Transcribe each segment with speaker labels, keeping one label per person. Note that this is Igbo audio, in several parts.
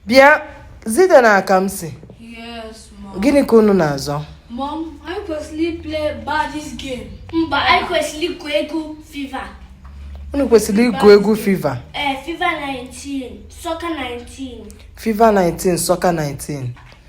Speaker 1: bịa Zite na Kamsi
Speaker 2: gịnị ka unu
Speaker 1: na-azọ Mom, anyị
Speaker 2: kwesịrị play gba this game. Mba, anyị kwesịrị
Speaker 3: igwu egwu FIFA.
Speaker 1: unu kwesịrị igwu egwu FIFA Ee, FIFA
Speaker 3: 19, soccer 19. FIFA 19
Speaker 1: soccer 19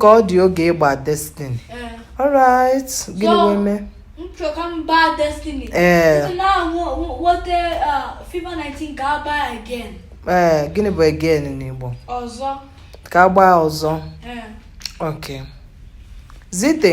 Speaker 2: ka ọ
Speaker 1: dị oge ịgba destiny eh. alright gịnị wee mee m chọ ka
Speaker 2: m gbaa destiny ee eh. na nwoke uh, fifa 19 ka a gbaa again ee eh, gịnị
Speaker 1: bụ again n'igbo
Speaker 2: ọzọ ka a
Speaker 1: gbaa ọzọ ok zite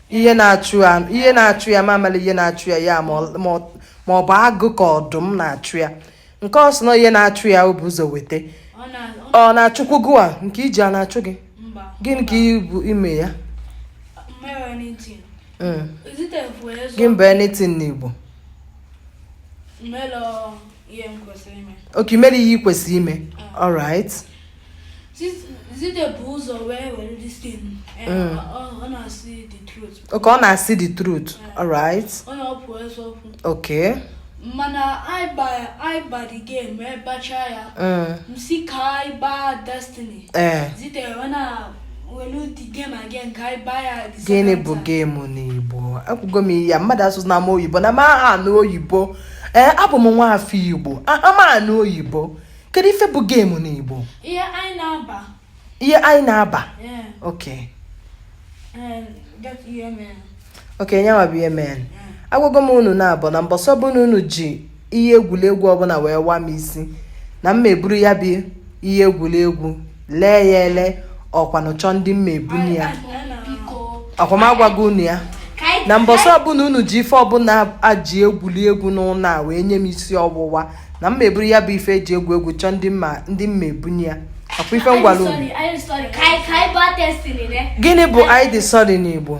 Speaker 1: ihe na-achụ ya ihe na-achụ ya m amala ihe na-achụ ya ya ma ọ bụ agụ ka ọdụm na-achụ ya nke ọ sị na ihe na-achụ ya o bu ụzọ weta ọ na-achụkwu gịnwa nke iji a na-achụ gị gịnị ka i bu ime ya mm. gịnị bụ anything n'Igbo okay i mere ihe ị kwesịrị ime mm. alright
Speaker 2: okay ọ na-asị
Speaker 1: the truth
Speaker 2: alright okay
Speaker 1: mana
Speaker 2: anyị gba the game wee gbachaa ya m si ka anyị gbaa destiny zite wee na gịnị bụ
Speaker 1: game n'igbo ekwugo m ya mmadụ asụzina m oyibo na m aha anụ oyibo ee eh, abụ m nwa afọ igbo aha m anụ oyibo kedu ife bụ game n'igbo ihe anyị
Speaker 2: na-agba ihe
Speaker 1: anyị na-agba okay okay nyanwa bụ ihe mee agwago m unu naabọ na mbọsị ọbụna unu ji ihe egwuregwu ọbụla wee wa m isi na m ma-eburu ya bụ ihe egwuregwu lee ya ele ọkwanụ chọọ ndị m ma-ebunye ya ọ kwa m agwago unu ya na mbọsị ọbụla unu ji ife ọbụla eji egwuli egwu n'ụlọ a wee nye m isi ọwụwa na m ma-eburu ya bụ ife eji egwu egwu chọọ ndị m ma ndị m ma-ebunye ya ọ kwa ife m gwara unu gịnị bụ anyị dị sorry n'igbo